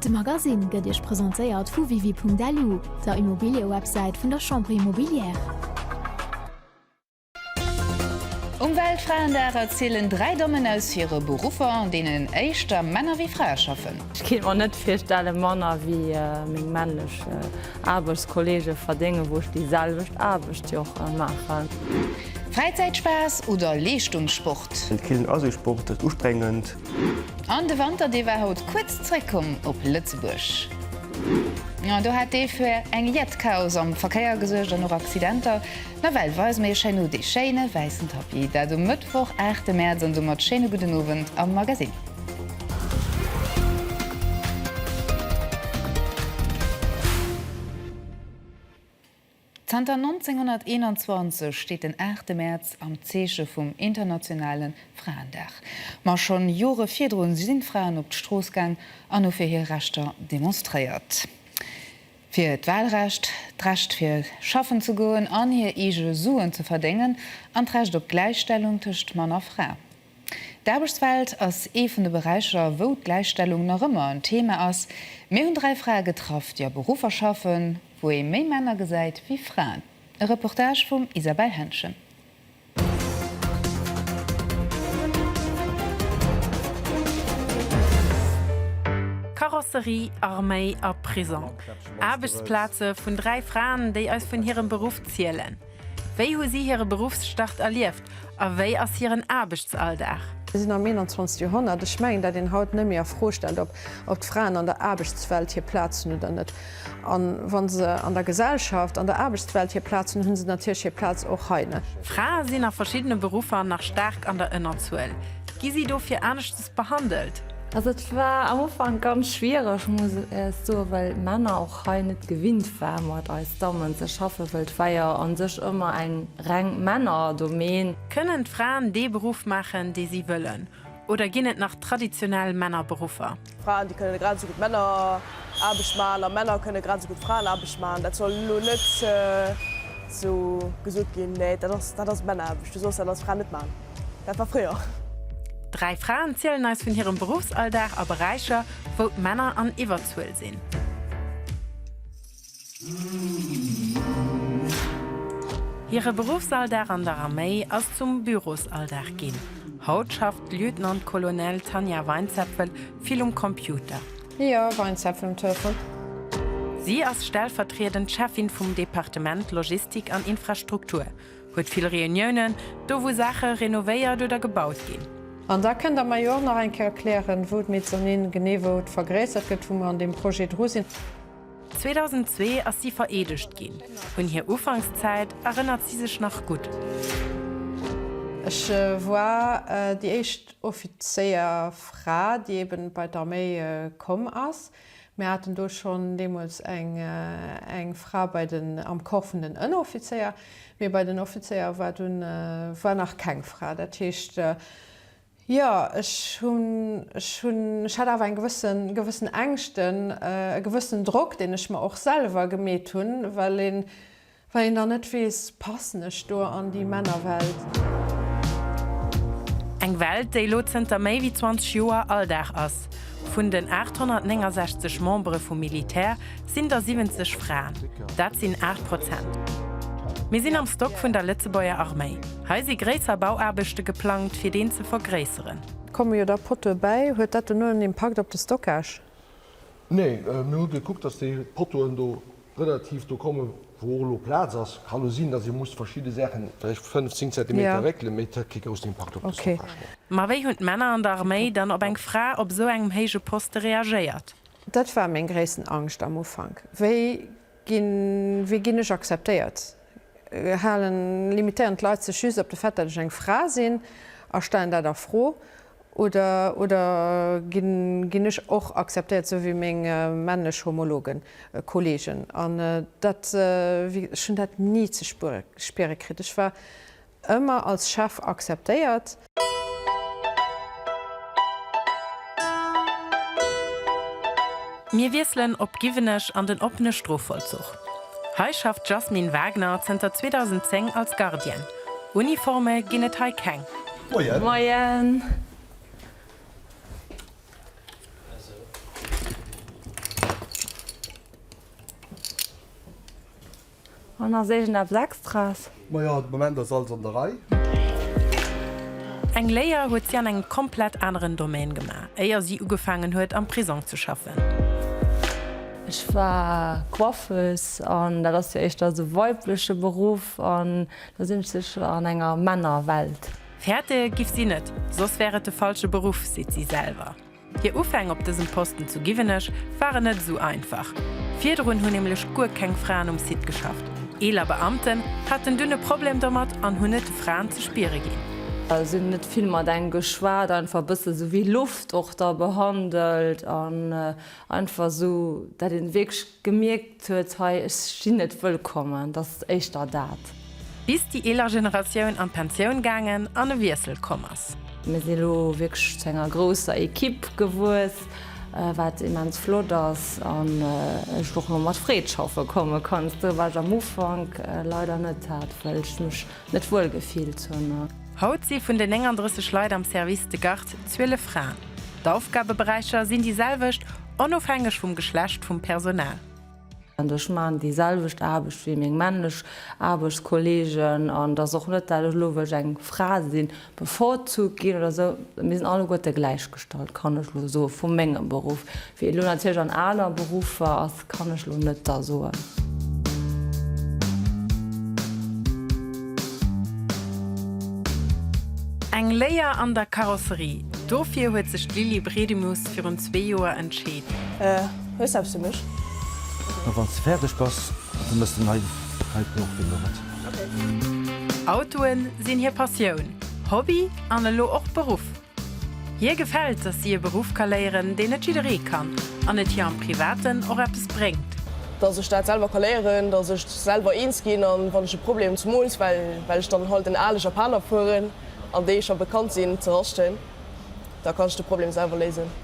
De Magasinn gëtt Iech presentéiert vu Wiwi.lu, der Immobiliëwebsäit vun der Chambre Immobilière. Um Weltfraendag erzielen dräi Dammen aus hire Beruffer, an deenen éischter Männer wéi Frae schaffen. Ech kéint mer net virstellen, manner wéi meng männlech Aarbechtskolleege verdéngen, wou ech déi selwecht Aarbecht jo och maachen. Fräizäitspaass oder Leeschtungssport? Den Killen ass ee Sport, dat ustrengend. An de Wanter, dee war haut kuerz zréckkomm op Lëtzebuerg. An do hat dee fir eng jett Chaos am Verkéier gesuergt an och Accidenter. Nawell weise mir Iech herno dee schéine wäissen Tapis. Dat um Mëttwoch, 8 Mäerz an domat schéine gudden Owend am Magasinn. Zanter 1921 steet den aachte Mäerz am Zeeche vum internationale Fraendag. Ma schonn Jore virdrun sinn d'Fraen op d'Strooss gaang an hu fir hir Rechter demonstréiert. Fir d'Walrecht, d'Recht fir schaffen ze goen an hir eege Suen ze verdéngen an d'Recht op d'Gläichstellung tëscht Mann a Fra. D'Aarbechtswelt ass ee vun de Beräicher, wou d'Gläichstellung nach ëmmer en Thema ass. Mir hunn dräi Frae getraff, déi a Beruffer schaffen, wou ee méi Männer gesäit wéi Fraen. E Reportage vum Isabelle Henschen. Karosserie, Arméi a Prisong, Aarbechtsplaze vun dräi Fraen, déi eis vun hirem Beruff zielen. Wéi hu si hire Beruffsstart erlieft a wéi ass hiren Aarbechtsalldag? Mir sinn am 21. Joerhonnert. Ech mengen, dat een haut net méi a Fro stellt, ob d'Fraen an der Aarbechtswelt hir Plaz hunn oder net. A wa se an der Gesellschaft, an der Aarbechtswelt hir Plaz hunn, hu se natierlech hir Plaz och hei net. Frae sinn a verschiddene Beruffer nach staark an der Ënnerzuel. Gi si dofir aneschtes behandelt? Also et war am Ufank ganz schwiereg muss ech soen, well Männer, hei net gewinnt war mat eis Dammen ze schaffen, wëll d'Weier an sech ëmmer eng reng Männerdomaine. Kënnen d'Fraen dee Beruff maachen dee si wëllen oder ginn et nach traditionell Männerberuffer? Fraen déi kënnen grad esou gutt Männeraarbecht maachen a Männer kënnen grad esou gutt Fraenaarbecht maachen. Dat soll elo net esou gesot ginn, mä dat ass Männeraarbecht, du soss dat als Fra net maachen. Dat war fréier. Dräi Fraen zielen eis vun hirem Beruffsalldag a Beräicher, wou d'Männer an Iwwerzuel sinn. Hire Beruffsalldag an der Arméi ass zum Bürosalldag ginn. Haut schafft d'Lieutenant-Colonel Tanja Weinzepfel vill um Computer. Jo, Weinzepfel um Telefon. Si ass stellvertriedend Cheffin vum Departement Logistik an Infrastruktur. Huet vill Reuniounen, do wou Saache renovéiert oder gebaut ginn. An da kënnt Der mer jo och nach eng Kéier erklären, wou d'Mezzanine genee wou et vergréissert gëtt, wou mer an deem Projet dru sinn. 2002 ass si vereedegt ginn. Un hir Ufankszäit erënnert si sech nach gutt. Ech war déi éischt Offizéierfra, déi eeben bei d'Arméi komm ass. Mir haten do schonn deemools eng Fra bei den, am Corps vun den Ënneroffizéier, mee bei den Offizéier war dunn, war nach keng Fra. Dat heescht, jo, ech hunn, ech hunn, ech hat awer eng gewëssen, gewëssen Ängschten, e gewëssenen Drock, deen ech mer och selwer gemeet hunn, well een, Wa een dann net weess, passen ech do an déi Männerwelt? Eng Welt, déi elo zënter méi wéi 20 Joer Alldag ass. Vun den 869 Membere vum Militär sinn der 70 Fraen. Dat sinn 8 Prozent. Mir sinn am Stock vun der Lëtzebuerger Arméi. Hei si gréisser Bauaarbechte geplangt, fir deen ze vergréisseren. Komme jo da Pottoe bäi. Huet dat dono en Impakt op de Stockage? Nee, mir hu gekuckt, datt déi Pottoen do relativ do kommen, wou och elo Plaz ass. Kann elo sinn, dass ee muss verschidde Saachen vläicht fënnf, zéng Zentimeter réckelen, mee et hätt kee groussen Impakt op dës Oprechnung. Ma wéi hunn d'Männer an der Arméi dann op eng Fra op esou engem héije Poste reagéiert? Dat war meng gréissten Angscht am Ufank. Wéi ginn, wéi ginn ech akzeptéiert? Halen, limitéieren d'Leit sech just op de Fait, datt ech eng Fra sinn a stellen dat a Fro? Oder, oder ginn ech och akzeptéiert, sou wéi meng männlech Homologen, Kollegen? An dat, wéi, ech hunn dat ni ze spiere kritt. Ech war ëmmer als Chef akzeptéiert. Mir wiesselen op Giwenech an den oppene Strofvollzuch. Hei schafft d'Jasmine Wagner zënter 2010 als Gardienne. Uniforme ginn et hei keng. Moien! Moien! An ass iergendeppes Extras? Ma jo, de Moment ass alles an der Rei. Eng Léier huet si an engem komplett aneren Domaine gemaach, éier si ugefaangen huet, am Prisong ze schaffen. Ech war Coiffeuse an dat ass jo éischter esou weibleche Beruff an Da sinn ech sécher an enger Männerwelt. Fäerte giff si net, soss wär et de falsche Beruff, seet si selwer. Hir Ufäng op dësem Posten zu Giwenech waren net esou einfach. Virdrun hunn nämlech guer keng Fraen um Site geschafft. Eeler Beamten haten dunn e Problem domat an hunn et de Fraen ze spiere ginn. Si hunn net vill mat engem geschwat, einfach e bësse sou wéi Loft och da behandelt an einfach sou, dat een wierklech Gemierkt huet, hei, ech sinn net wëllkommen, dat ass éischter dat. Bis déi eeler Generatioun an d'Pensioun gaangen an e Wiessel komm ass. Mir si lo wierklech zu enger grousser Ekipp gewuess, wat immens flott ass an ech och lo mat Freed schaffe komme kann. Doriwwer war ech am Ufank leider net hat, well ech mech Net wuel gefillt hunn. Haut si vun den 39 Leit am Service de garde 12 Fraen. D'Aufgabeberäicher sinn déi selwecht, onofhängeg vum Geschlecht vum Personal. Ech maachen déi selwecht Aarbecht wéi meng männlech Aarbechtskolleegen an et ass och net, dat ech elo wëll eng Fra sinn. bevorzugt ginn oder esou, mir sinn alleguerte gläichgestallt, kann ech elo soen, vu mengem Beruff. Wéi et elo natierlech an aner Beruffer ass, kann ech elo net da soen. Eng Léier an der Karosserie, dofir huet sech d'Lily Bredimus virun zwee Joer entscheet. Hues du eppes fir mech? A wann s de fäerdeg bass, da méchs de nei Reitblock, wéi elo, wat? Autoe sinn hir Passioun, Hobby an elo och Beruff. Hir gefält, dass si e Beruff ka léieren, deen net jidderee kann an et hir am Privaten och eppes bréngt. Dass ech dat selwer ka léieren, dass ech selwer eens ginn an wann ech e Problem zemools, well ech dann halt en ale Japaner fueren an déi scho bekannt sinn, ze raschten, da kann ech de Problem selwer léisen.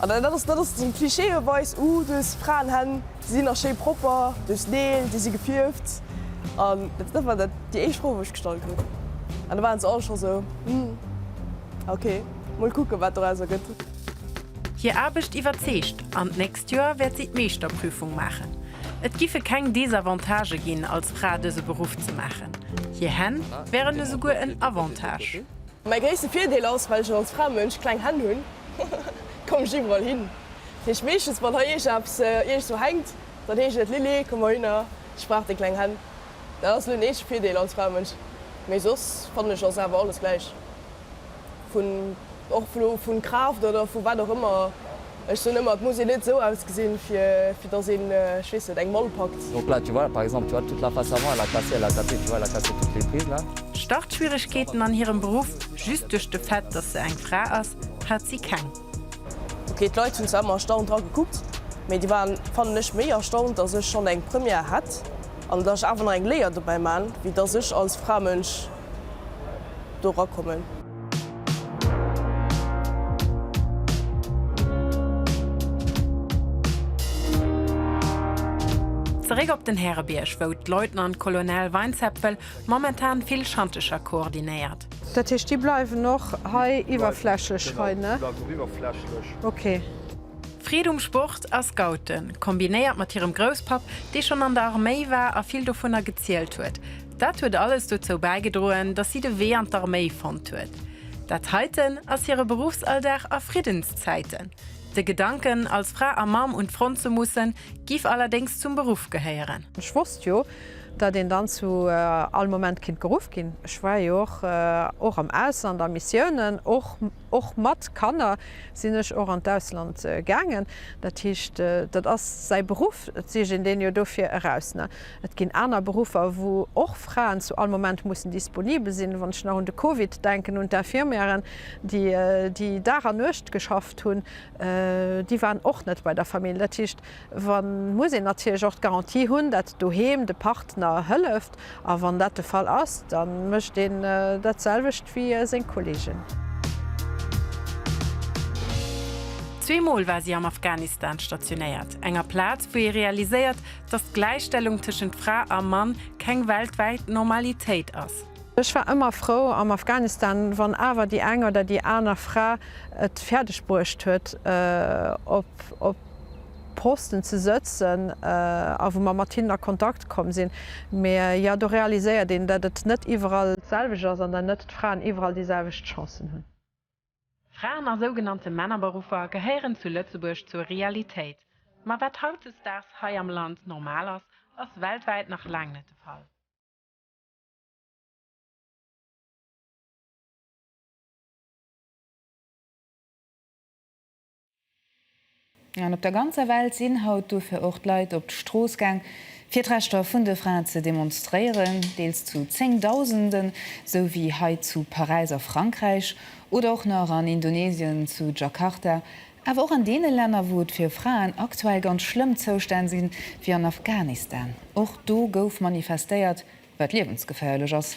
An dat ass, dat ass den Cliché op eis, Ouh, dës Fraenhänn, déi sinn nach schéi propper duerch d'Neel, déi si gefierft. An dat war dat, déi éischt Fro, wou ech gestallt hunn. An da waren se all scho sou, Hm, okay, mol kucken, wat dorauser gëtt. Hir Aarbecht iwwerzeegt an d'nächst Joer wäert si d'Meeschterprüfung maachen. Et giffe keng Desavantagë ginn, als Fra dëse Beruff ze maachen. Hir Hänn wären esouguer en Avantage. Mäi gréisste Virdeel ass, well ech als Framënsch kleng Hänn hunn, komm ech iwwerall hin. Dat heescht, meeschtens wann hei iergend eppes iergendwou hänkt, dann heescht et, Lilly, komm mol hinner, ech brauch deng kleng Hänn. Dat ass elo den eenzege Virdeel als Framënsch, mee soss fannen ech ass awer alles gläich, vun och vun Kraaft oder vu wat och ëmmer. Ech soen ëmmer, et muss een net esou ausgesinn, fir datt een, ech weess net, eng Mall packt. Donc là, tu vois, par exemple, tu vois, toute la face avant, elle a cassé, elle a tapé, tu vois, elle a cassé toutes les prises là. Startschwieregkeeten an hirem Beruff, just duerch de Fait, datt se eng Fra ass, hat si keng. Ok, d'Leit hunn zwar ëmmer erstaunt dra gekuckt, mee déi waren, fannen ech, méi erstaunt, datt ech schonn eng Première hätt an datt ech awer nach eng Léier dobäi man, wéi datt ech als Framënsch do rakommen. Zeréck op den Härebierg, wou d'Leutnant Colonel Weinzepfel momentan vill Schantecher koordinéiert. Dat heescht, déi bleiwen och hei iwwerflächlech hei, ne? Déi bleiwen och iwwerflächlech. Ok. Freed um Sport a Scouten, kombinéiert mat hirem Grousspapp, dee schonn an der Arméi war a vill dovunner gezielt huet, Dat huet alles dozou bäigedroen, datt si de Wee an d'Arméi fonnt huet. Dat heiten ass hire Beruffsalldag a Friddenszäiten. De Gedanken, als Fra a Mamm un d'Front ze mussen, giff allerdéngs zum Beruff gehéieren. Ech wosst jo, datt een dann zu all Moment kinnt geruff ginn. Ech war jo och och am Ausland a Missiounen. Och och mat Kanner sinn ech och an d'Ausland gaangen. Dat heescht, dat ass säi Beruff, et sief een deen jo dofir eraus, ne? Et ginn aner Beruffer, wou och Fraen zu all Moment mussen disponibel sinn. Wann ech nach un de Covid denken, un d'Infirmièren, déi déi Dag an Nuecht geschafft hunn, déi waren och net bei der Famill. Dat heescht, wa muss een natierlech och d'Garantie hunn, datt doheem de Partner hëlleft. A wann dat de Fall ass, da mécht een dat selwecht wéi seng Kollegen. Zweemol war si am Afghanistan stationéiert, enger Plaz, wou ee realiséiert, Dass d'Gläichstellung tëschent Fra a Mann keng weltwäit Normalitéit ass. Ech war ëmmer frou am Afghanistan, wann awer déi eng oder déi aner Fra et fäerdeg bruecht huet, op Posten ze sëtzen a wou mer mat hinnen a Kontakt komm sinn. Mä jo, do realiséiert een, datt et net iwwerall d'selwecht ass an datt net d'Fraen iwwerall déi selwecht Chancen hunn. Fraen a sougenannte Männerberuffer gehéieren zu Lëtzebuerg zur Realitéit. Ma wat hautdesdaags hei am Land normal ass, ass weltwäit nach laang net de Fall. An op der ganzer Welt sinn haut dofir och d'Leit op d'Strooss gaang, fir d'Rechter vun de Fraen ze demonstréieren, deels zu Zéngdausenden, sou wéi hei zu Paräis a Frankräich oder och nach an Indonesien zu Jakarta, awer och an deene Länner, wou et fir Fraen aktuell ganz schlëmm Zoustänn sinn, wéi an Afghanistan. Och do gouf manifestéiert. wat liewensgeféierlech ass.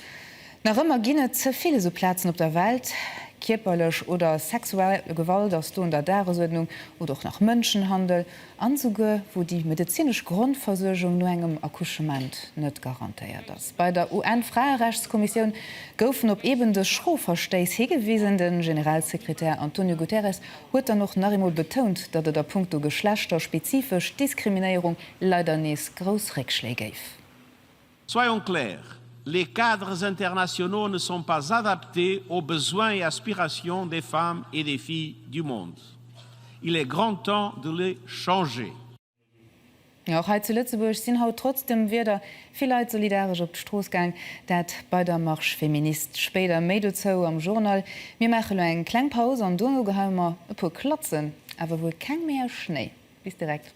Nach ëmmer ginn et ze vill esou Plazen op der Welt. Kierperlech oder sexuell Gewalt ass do un der Dagesuerdnung, oder och nach Mënschenhandel, an esouguer wou déi medezinesch Grondversuergung no engem Accouchement net garantéiert ass. Bei der UN-Fraerechtskommissioun goufen op eben dës schro Verstéiss higewisen. De Generalsekretär Antonio Guterres huet dann och nach eemol betount, datt et a punkto geschlechterspezifesch Diskriminéierung leider nees grouss Réckschléi géif. Soyons clairs, les cadres internationaux ne sont pas adaptés aux besoins et aspirations des femmes et des filles du monde. Il est grand temps de les changer. Jo, och hei zu Lëtzebuerg sinn haut trotz dem Wieder vill Leit solidaresch op d'Strooss gaang. Dat bei der Marche féministe. Spéider méi dozou am Journal. Mir maache lo eng kleng Paus an duerno geheie mer e puer Klatzen, awer wuel keng méi aus Schnéi. Bis direkt.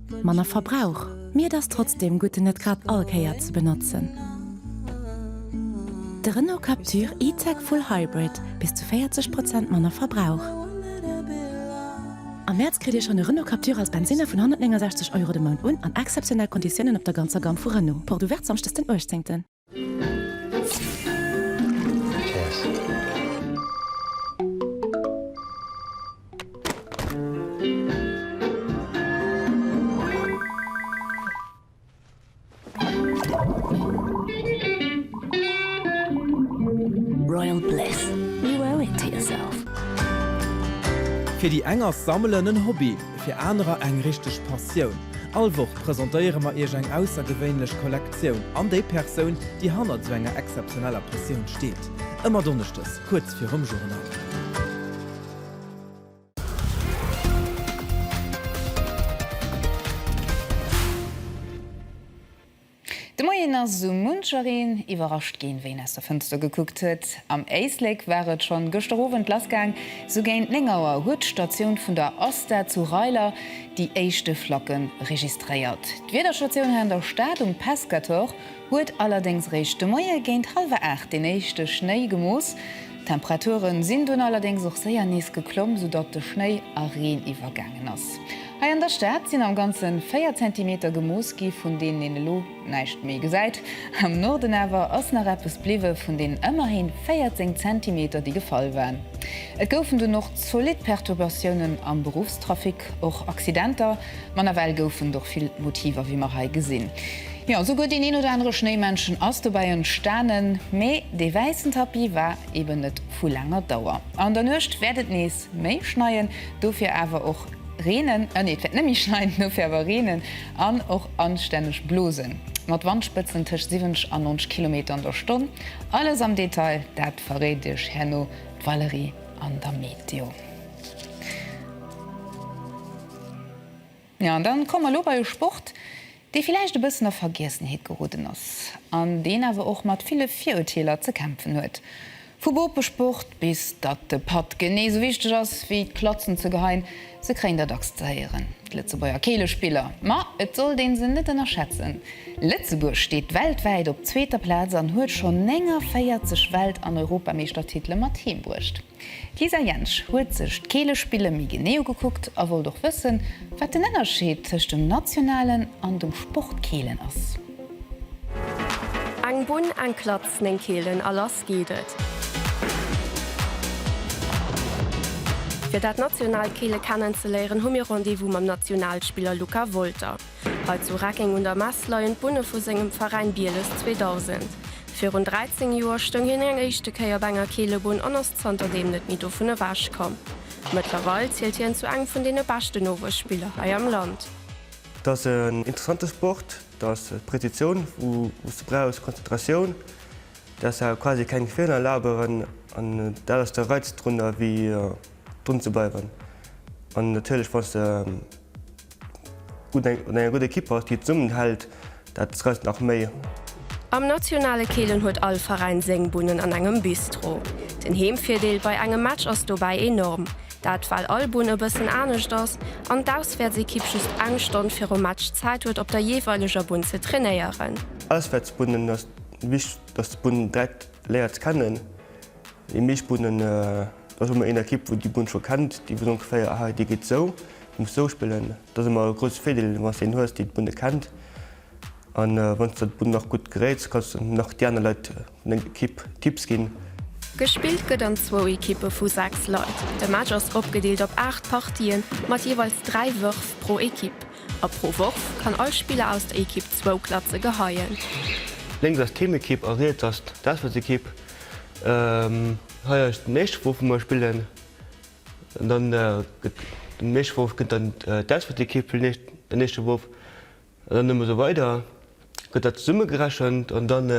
manner Verbrauch, mee et ass trotzdem gutt en net grad all Kéier ze benotzen. De Renault Captur E-Tech Full Hybrid, bis zu 40 Prozent manner Verbrauch. Am Mäerz kritt Dir schonn e Renault Captur als Bensinner vun 169 Euro de Mount un an exzeptionell Konditiounen op der ganzer Gamme vu Renault. Porte ouverte Samschdes den 18. Fir déi eng ass Sammelen en Hobby, fir anerer eng richteg Passioun. All Woch presentéiere mer Iech eng aussergewéinlech Kollekte. Exzeptioun an déi Persoun, déi hannert esou enger exzeptioneller Pressioun steet. Ëmmer Donneschdes kuerz virum Journal. De Moien ass esou munchereen iwwerrascht ginn, wéi en aus der Fënster gekuckt huet. Am Éislek war et schonn gëschter Owend lassgaang. Esou géint 9 Auer huet d'Statioun vun der ASTA zu Reiler, déi éischte Flacke registréiert. D'Wiederstatioun hei an der Stad um Pescator huet allerdéngs réischt de Moie géint hallwer 8 deen éischte Schnéi gemooss. D'Temperature sinn dunn allerdéngs och séier nees geklomm, soudatt de Schnéi a Reen iwwergaangen ass. Hei an der Stad sinn am Ganze 4 Zentimeter gemooss gi vun deenen een elo. Näischt méi gesäit. Am Norden awer ass nach eppes bliwwe vun den ëmmerhin 14 Zentimeter, déi gefall waren. Et goufen dunn och zolidd Perturbatiounen am Beruffstrafic, och Accidenter, ma nawell goufen et och vill Motiver, wéi mer hei gesinn. Jo, souguer deen een oder anere Schnéimännchen ass dobäi entstanen. Mee dee wäissen Tapis war eben net vu laanger Dauer. An der Nuecht wäert et nees méi schneien, dofir awer och reenen. An, nee, et wäert net méi schneien, dofir awer reenen. An och anstänneg Blosen, mat Wandspëtzen tëscht 70 an 90 Kilometer an der Stonn. Alles am Detail, dat verréit iech herno d'Valérie an der Meteo. An da komme mer elo bei e Sport, dee villäicht e bëssen a Vergiessenheet geroden ass, an deen awer och mat ville Virurteeler ze kämpfen huet. Vu Bopesport bis datt de Patt genee sou wichteg ass wéi d'Klatzen ze geheien, se kréien der dacks ze héieren, d'Lëtzebuerger Keelespiller. Ma et sollt ee se net ënnerschätzen. Lëtzebuerg steet weltwäit op zweeter Plaz an huet schonn 49 Welt an Europameeschtertitele mat heem bruecht. D'Lisa Jentsch huet sech d'Keelespille méi genee ugekuckt a wollt och wëssen, wat den Ënnerscheed tëscht dem nationalen an dem Sportkeelen ass. Eng Bunn, eng Klatz, néng Keelen a lass geet et! Fir dat nationaalt Keele kennenzeléieren, hu mir Rendez-vous mam Nationalspiller Luca Wolter. Hei zu Reckeng un der Mess leien d'Bunne vu sengem Veräin Bieles 2000. Virun 13 Joer stoung hien eng éischte Kéier op enger Keelebunn an ass zanterdeem net méi dovun ewechkomm. Mëttlerweil zielt hien zu engem vun deene beschten Nowuesspiller hei am Land. Et ass en interessante Sport, et ass Prezitioun wou s de brauchs, Konzentratioun, däers awer quasi keng Feeler erlaben an dat ass de Reiz drunner wéi drun ze bleiwen an natierlech wann s de gutt an enger gudder Ekipp bass déi zesummen hält. Dat trëfft nach méi. Am nationale Keelen huet all Veräin séng Bunnen an engem Bistro. Den Heemvirdeel bei engem Match ass dobäi enorm, dat well all Bunn e bëssen anescht ass an d'Auswäertsekipp just eng Stonn virum Match Zäit huet op der jeeweileger Bunn ze trainéieren. Auswäertsbunnen ass wichteg, dass de Bunn direkt léiert kennen. Déi meescht Bunnen, do hu mer een Ekipp wou déi Bunn scho kennt, déi weess ongeféier, aha déi geet sou, déi muss sou spillen. Dat ass emmer e grousse Virdeel den ass een hues déi d'Bunne kennt an wann s de d'Bunn nach gutt geréits kanns de nach déi aner Leit vun denger Ekipp Tipps ginn. Gespillt gëtt an zwou Ekippe vu 6 Leit. De Match ass opgedeelt op 8 Partië mat jeeweils 3 Wërf pro Ekipp a pro Worf kann all Spiller aus der Ekipp zwou Klatze geheien. Lénks ass d'Heemekipp a riets ass d'Auswäertsekipp. Hei ass den éischte Wurf wou mer spillen. An dann gëtt den nächste Wouf gëtt dann d'Auswäertekipp fir den nächste Wouf an dann ëmmer esou weider gëtt dat zesummegerechent an dann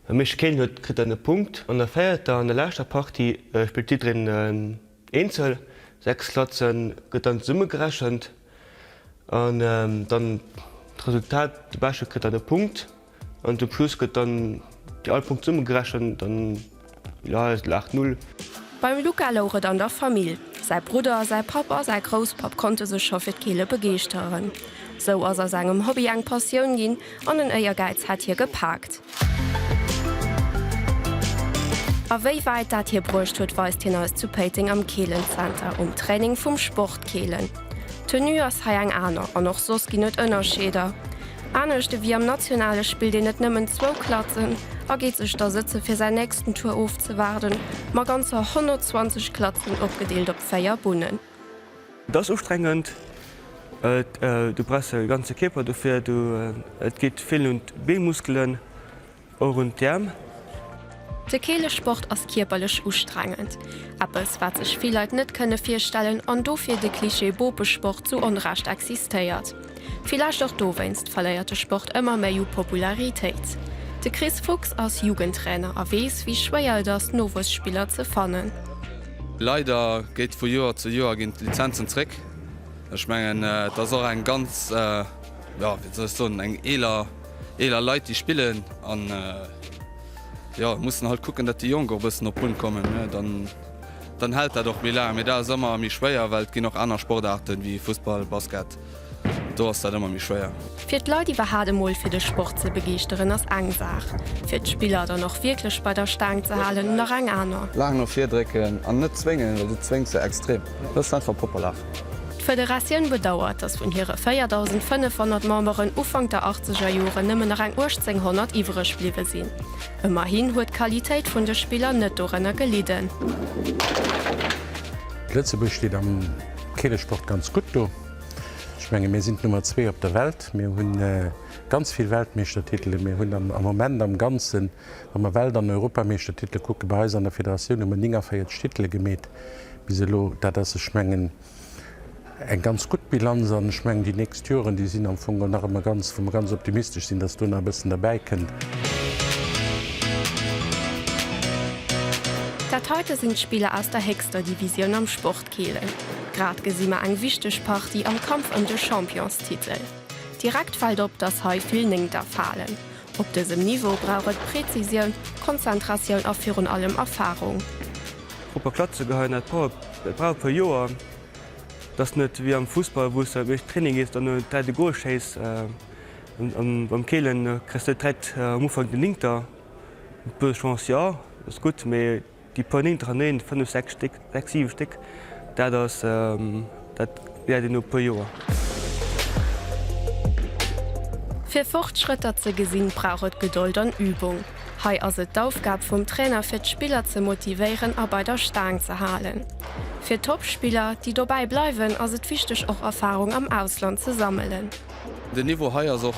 wem meescht Kéilen huet kritt dann e Punkt. An der véierter an der leschter Partie spillt jiddereen eenzel, 6 Klatze gëtt dann zesummegerechent an dann d'Resultat, de Beschte kritt dann e Punkt. An de Plus gëtt dann déi all Punkte zesumme gerechent an jo, et laacht Null. Beim Luca louch et an der Famill. Säi Brudder, säi Papp a säi Grousspapp konnte sech scho fir d'Keele begeeschteren. Sou ass aus engem Hobby eng Passioun ginn an en Éiergäiz hat hie gepaakt. A wéi wäit dat hie bruecht huet, weist hien eis zu Péiteng am Keelenzenter um Training vum Sportkeelen. D'Tenue ass hei eng aner an och soss ginn et Ënnerscheeder. Anescht ewéi am Nationale spillt een net nëmmen zwou Klatzen a geet sech da sëtze fir säin nächsten Tour ofzewaarden, ma ganzer 120 Klatzen opgedeelt op véier Bunnen. Et ass ustrengend, du brauchs e ganze Kierper dofir, et geet vill un d'Beemuskelen. Och un d'Äerm. De Keelesport ass kierperlech ustrengend, eppes wat sech vill Leit net kënne virstellen an dofir de Cliché Bopesport zu Onrecht existéiert. Villäicht och dowéinst verléiert de Sport ëmmer méi u Popularitéit. De Chris Fuchs ass Jugendtrainer a weess wéi schwéier et ass Nowuesspiller ze fannen. Leider geet vu Joer zu Joer ginn d'Lizenzen zréck. Ech mengen et ass och eng ganz, jo wéi soll ech soen, eng eeler. eeler Leit déi spillen an jo mussen halt kucken dat déi Jonk och e bëssen op Bunn kommen dann dann hält dat och méi laang mee dat ass ëmmer méi schwéier well et ginn och aner Sportaarten wéi Fussball, Basket do ass dat ëmmer méi schwéier. Fir d'Leit iwwerhat emol fir de Sport ze begeeschteren ass eng Saach, fir d'Spiller dann och wierklech bei der Staang ze halen nach eng aner. Laang no vir drécken an net zwéngen well du zwéngs se extrem, hues einfach Poppelaacht. D'Federatioun bedauert, datt vun hire 4.500 Memberen Ufank der achtzeger Joren nëmmen nach eng 1.800 iwwereg bliwwe sinn. Ëmmerhin huet d'Qualitéit vun de Spiller net dorënner gelidden. Lëtzebuerg steet am Keelesport ganz gutt do. Ech menge mir sinn d'Nummer zwee op der Welt. Mir hu ganz vill Weltmeeschtertitele. Mir hunn am Moment am Ganzen Wa mer Welt an Europameeschtertitele kucken, bei eis an der Federatioun hu mer 49 Titele gemeet bis elo. Dat ass, ech mengen, eng ganz gutt Bilanz. An ech mengen, déi nächst Joren, déi sinn am Fong och nach ëmmer ganz, wou mer ganz optimistesch sinn, dass do nach e bëssen derbäi kënnt. Dat heite sinn d'Spiller aus der héchster Divisioun am Sport Kielen. Grad gesi mer eng wichteg Partie am Kampf ëm de Championstitel. Direkt fält op, dass hei vill Néngter falen. Op dësem Niveau brauch et Präzisioun, Konzentratioun a virun allem Erfarung. Proper Klatze geheien, dat brauch e puer Joer. Et ass net wéi am Fussball, wou s de am éischten Training gees an en dräit e Gol schéiss. Beim Keelen kriss de dräit am Ufank, den Linkter huet e puer Chancë, jo, ass gutt, mee. Déi puer néintereneen, fënnef, sechs Stéck, sechs, siwe Stéck, dat ass, dat wäert een no e puer Joer. Fir Fortschrëtter ze gesinn, brauch et Gedold an Übung. Hei ass et d'Aufgab vum Trainer fir d'Spiller ze motivéieren a bei der Staang ze halen. Fir d'Toppspiller, déi dobäi bleiwen, ass et wichteg och Erfarung am Ausland ze sammelen. Den Niveau hei ass och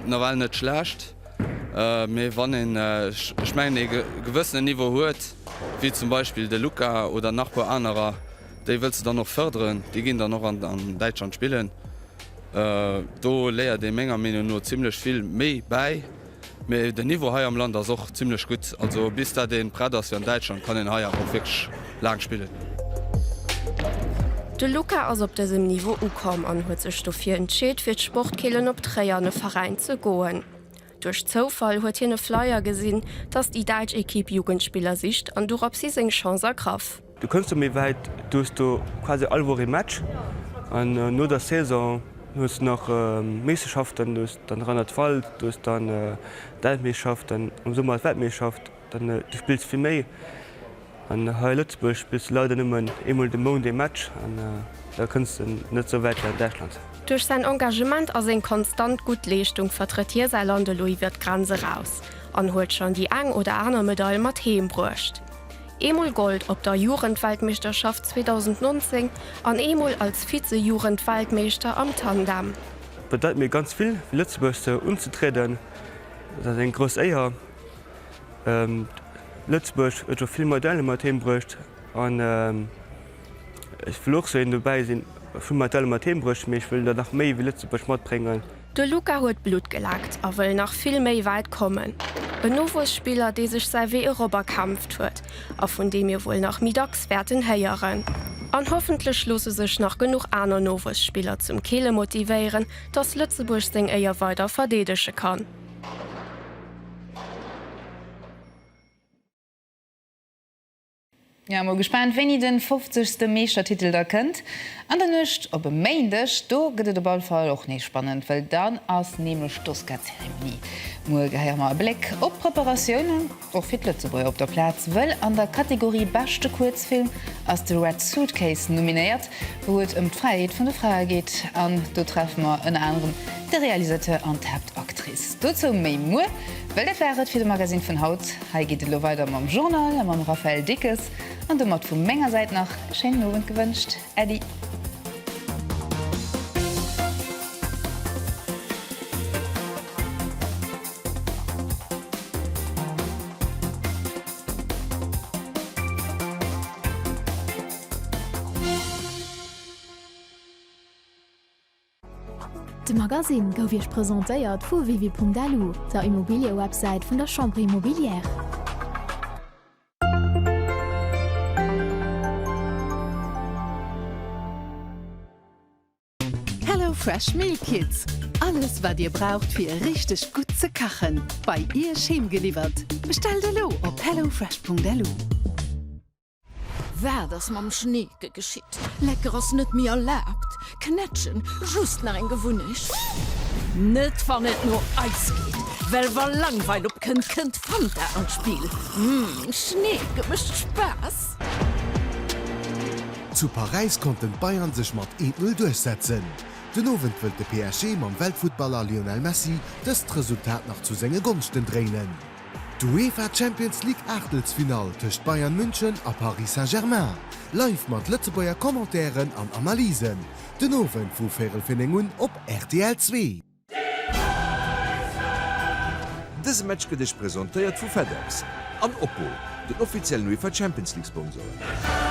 nawell net schlecht. Mee wann een, ech mengen, ee gewëssenen Niveau huet, wéi zum Beispill de Luka oder nach puer anerer, déi wëlls de dann och fërderen. Déi ginn dann och an Däitschland spillen. Do léiert ee menger Meenung no zimmlech vill méi bäi. Mee den Niveau hei am Land ass och zimmlech gutt. Also bis dat ee prett ass fir an Däitschland, kann een hei awer och wierklech Laang spillen. De Luca ass op dësem Niveau ukomm an huet sech dofir entscheet fir d'Sportkeelen op Tréier an e Veräin ze goen. Duerch Zoufall huet hien e Flyer gesinn, dass déi däitsch Ekipp Jugendspiller sicht an dorops hin seng Chance ergraff. Du kënns do méi wäit, du hues do quasi all Woch ee Match an no der Saison hues du nach Meeschterschaften, du hues dann Rheinland-Pfalz, du hues dann d'Elfmeeschterschaften, am Summer ass d'Weltmeeschterschaft. An du spills fir méi. An hei a Lëtzebuerg spills du leider nëmmen eemol de Mount ee Match an da kënns de net esou wäit wéi an Däitschland. Duerch säin Engagement a seng konstant gutt Leeschtung vertrëtt hie säi Land elo iwwer d'Grenz eraus an huet schonn déi eng oder aner Medail mat heem bruecht. Eemol Gold op der Jugendweltmeeschterschaft 2019 an eemol als Vize-Jugendweltmeeschter am Tandem. Et bedeit mir ganz vill fir Lëtzebuerg sou unzetrieden. Dat ass eng grouss Éier. Lëtzebuerg huet scho vill Modelle mat heem bruecht an ech wëll och sou een dobäi sinn. Vill Modelle mat heem bruecht, mee ech wëll der nach méi wéi Lëtzebuerg matbréngen. De Luca huet Blutt gelaakt a wëll nach vill méi wäit kommen. En Nowuesspiller, dee sech säi Wee erop erkämpft huet a vun dee mir wuel nach méi dacks wäerten héieren. An hoffentlech loosse sech nach genuch aner Nowuesspiller zum Keele motivéieren, dass Lëtzebuerg seng Éier weider verdeedege kann. Jo, mol gespaant wéini den 50 ste Meeschtertitel da kënnt an der Nuecht op e Méindeg. Do gëtt et op all Fall och nees spannend, well dann ass nämlech d'Oscar-Zeremonie. Muer gehéiere mer e Bléck op d'Preparatioune. Och fir d'Lëtzebuerger op der Plaz, wëll an der Kategorie Beschte Kuerzfilm ass The Red Suitcase nominéiert, wou et ëm d'Fräiheet vun de Frae geet. An do treffe mer ënner anerem de Realisateur an d'Haaptactrice. Dozou méi muer, well dat war et fir de Magasinn vun haut. Hei geet et elo weider mam Journal a mam Raphaël Dickes. An domat vu menger Säit nach e schéinen Owend gewënscht. Äddi. De Magasinn gouf Iech presentéiert vu wiwi.lu, der Immobiliëwebsäit vun der Chambre Immobilière. Hello Fresh Meal Kits, alles wat dir braucht fir richteg gutt ze kachen, bei iech heem geliwwert. Bestellt elo op hellofresh.lu. Waat ass mam Schneeke geschitt? Lecker ass net méi erlaabt. Knätschen, just nach eng Gewunnecht. Net wann et no eis geet, well wa Langweil opkënnt, kënnt Fanta an d'Spill. Schneeke mécht Spaass! Zu Paräis konnten d'Bayern sech mat 1-0 duerchsetzen. Den Owend wëllt de PSG mam Weltfuttballer Lionel Messi dëst Resultat nach zu senge Gonschten dréinen. D'UEFA Champions League Aachtelsfinall tëscht Bayern München a Paris Saint-Germain, live mat Lëtzebuerger Commentairen an Analysen, den Owend vu véirel fir 9 un op rtl zwee. Dëse Match gëtt Iech presentéiert vu FedEx an Oppo, den offiziellen UEFA Champions League Sponsoren.